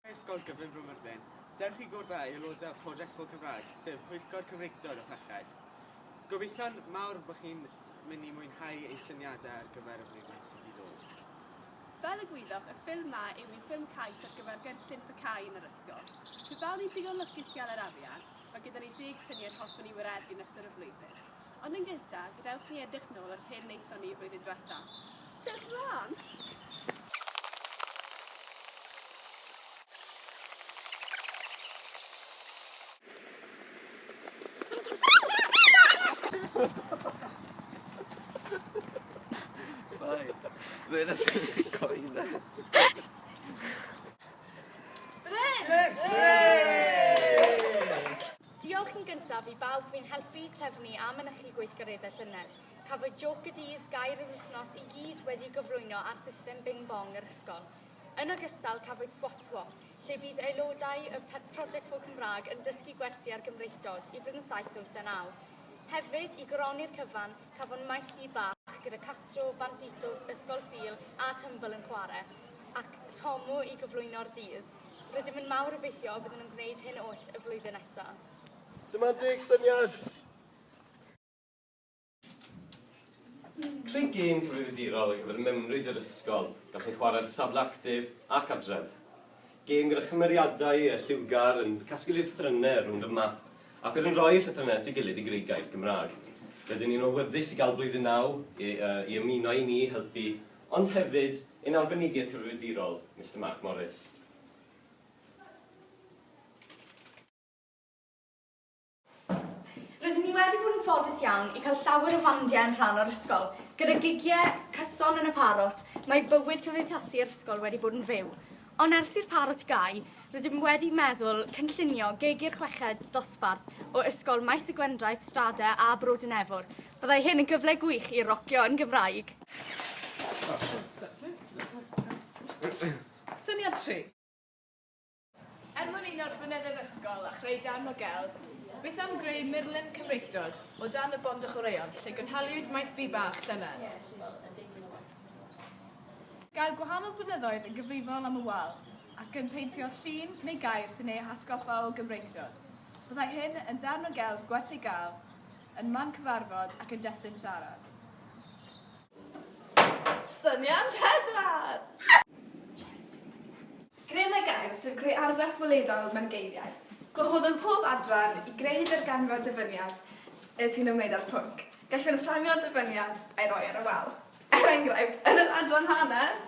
Ysgol Gyfun Bro Myrddin. Dewch i gwrdd â aelodau Project for Cymraeg, sef Pwyllgor Cymreictod y Parched. Gobeithion mawr bod chi'n mynd i mwynhau ein syniadau ar gyfer y flwyddyn sydd i ddod. Fel y gwyddoch, y ffilm 'ma yw un ffilm cais ar gyfer gynllun PCAE yn yr ysgol. Pe bawn i'n ddigon lwcus i gael yr arian, mae gyda ni deg syniad hoffwn i wireddu yn ystod y flwyddyn. Ond yn gynta, gadewch i ni edrych nôl yr hyn wnaethon ni flwyddyn diwetha. Dewch mlan! Diolch yn gyntaf i bawb fu'n helpu trefnu a mynychu gweithgareddau llynedd. Cafwyd jôc y dydd, gair yr wythnos, i gyd wedi gyflwyno ar system Bing Bong yr ysgol. Yn ogystal, cafwyd Swat Swap, lle bydd aelodau y Project for Cymraeg yn dysgu gwersi ar Gymreictod i Blwyddyn Saith, Wyth a Naw. Hefyd, i goroni'r cyfan, cafwn maes gi bach gyda Castro, Banditos, Ysgol Sul a Tymbl yn chwarae, ac Tomo i gyflwyno'r dydd. Rydym yn mawr obeithio y byddwn yn gwneud hyn oll y flwyddyn nesaf. Dyma'n deg syniad! Creu gêm cyfrifiadurol ar gyfer mewnryd yr ysgol, gall ei chwarae ar safle actif ac adref. Gêm gyda chymeriadau a lliwgar yn casglu llythrennau rownd y map ac wedyn rhoi'r llythrennau at ei gilydd i greu gair Gymraeg. Rydyn ni'n awyddus i gael Blwyddyn Naw i ymuno â ni i helpu Ond hefyd ein Arbenigedd Cyfrifiadurol, Mister Mark Morris. Rydyn ni wedi bod yn ffodus iawn i cael llawer o fandiau yn rhan o'r ysgol. Gyda gigiau cyson yn y Parot, mae bywyd cymdeithasu yr ysgol wedi bod yn fyw. Ond ers i'r Parot gau, rydym wedi meddwl cynllunio gig i'r chweched dosbarth o Ysgol Maes y Gwendraeth, Strade a Bro Dinefwr, Byddai hyn yn gyfle gwych i rocio yn Gymraeg! Syniad tri. Er mwyn uno Rhwynedde'r Ysgol a chreu darn o gelf, beth am greu murlun Cymreictod o dan y bont a chwaraeon lle gynhaliwyd maes bi bach llynedd? Gair gwahanol blynyddoedd yn gyfrifol am y wal ac yn peintio llun neu gair sy'n eu hatgoffa o Gymreictod. Byddai hyn yn darn o gelf gwerth ei gael. Yn man cyfarfod ac yn destun siarad. Syniad pedwar! Greu mae gair sef greu argraff weledol mewn geiriau. Gwahoddwn pob adran i greu darganfod dyfyniad sy'n ymwneud â'r pwnc. Gallwn fframio'r dyfyniad a'i roi ar y wal. Er enghraifft, yn yr adran Hanes!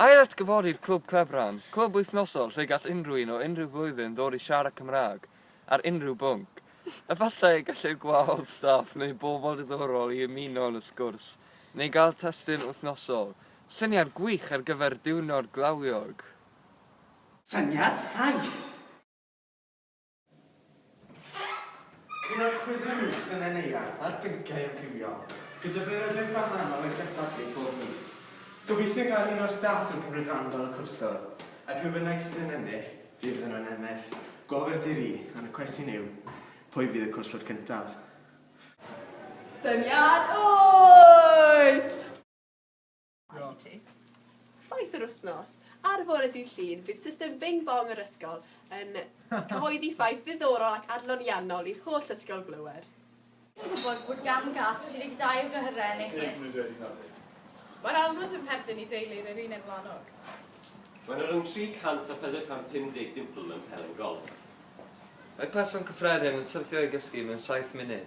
Ail-atgyfori'r Clwb Clebran, clwb wythnosol lle gall unrhyw un o unrhyw flwyddyn ddod i siarad Cymraeg ar unrhyw bwnc. Efallai y gellir gwahodd staff neu bobl diddorol i ymuno yn y sgwrs, neu gael testun wythnosol. Syniad gwych ar gyfer diwrnod glawiog! Syniad saith! Un o'r cwisiau mis yn Nen Eirarth ar bynciau amrywiol, gyda blynyddoedd gwahanol yn cystadlu bob mis. Gobeithio gael un o'r staff yn cymryd rhan fel y cwrswr, a pwy bynnag sydd yn ennill, fydd yno yn ennill. Gofr di ri, ond y cwestiwn yw, pwy fydd y cwrswr cyntaf? Syniad o'i! Diolch. Ti. Ffaith yr wythnos. Ar y bore dydd Llun, bydd system Bing Bong yr ysgol yn cyhoeddi ffaith ddiddorol ac adloniannol i'r holl ysgol glywed. Ti'n gwybod bod gan gât 32 o gyhyrau yn ei chlyst? Mae'r almwnd yn perthyn i deulu yr Erineb Wlanog. Mae yna rhwng 300 a 450 dimple yn Pelen Golff. Mae person cyffredin yn syrthio i gysgu mewn saith munud.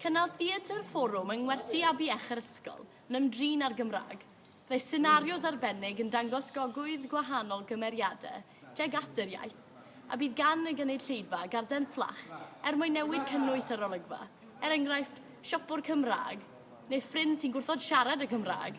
Cynnal theatr fforwm yng ngwersi Abbey Eich yr ysgol yn ymdrin â'r Gymraeg. Byddai senarios arbennig yn dangos gogwydd gwahanol gymeriadau tuag at yr iaith, a bydd gan y gynulleidfa garden fflach er mwyn newid cynnwys yr olygfa, er enghraifft, siopwr Cymraeg neu ffrind sy'n gwrthod siarad y Cymraeg.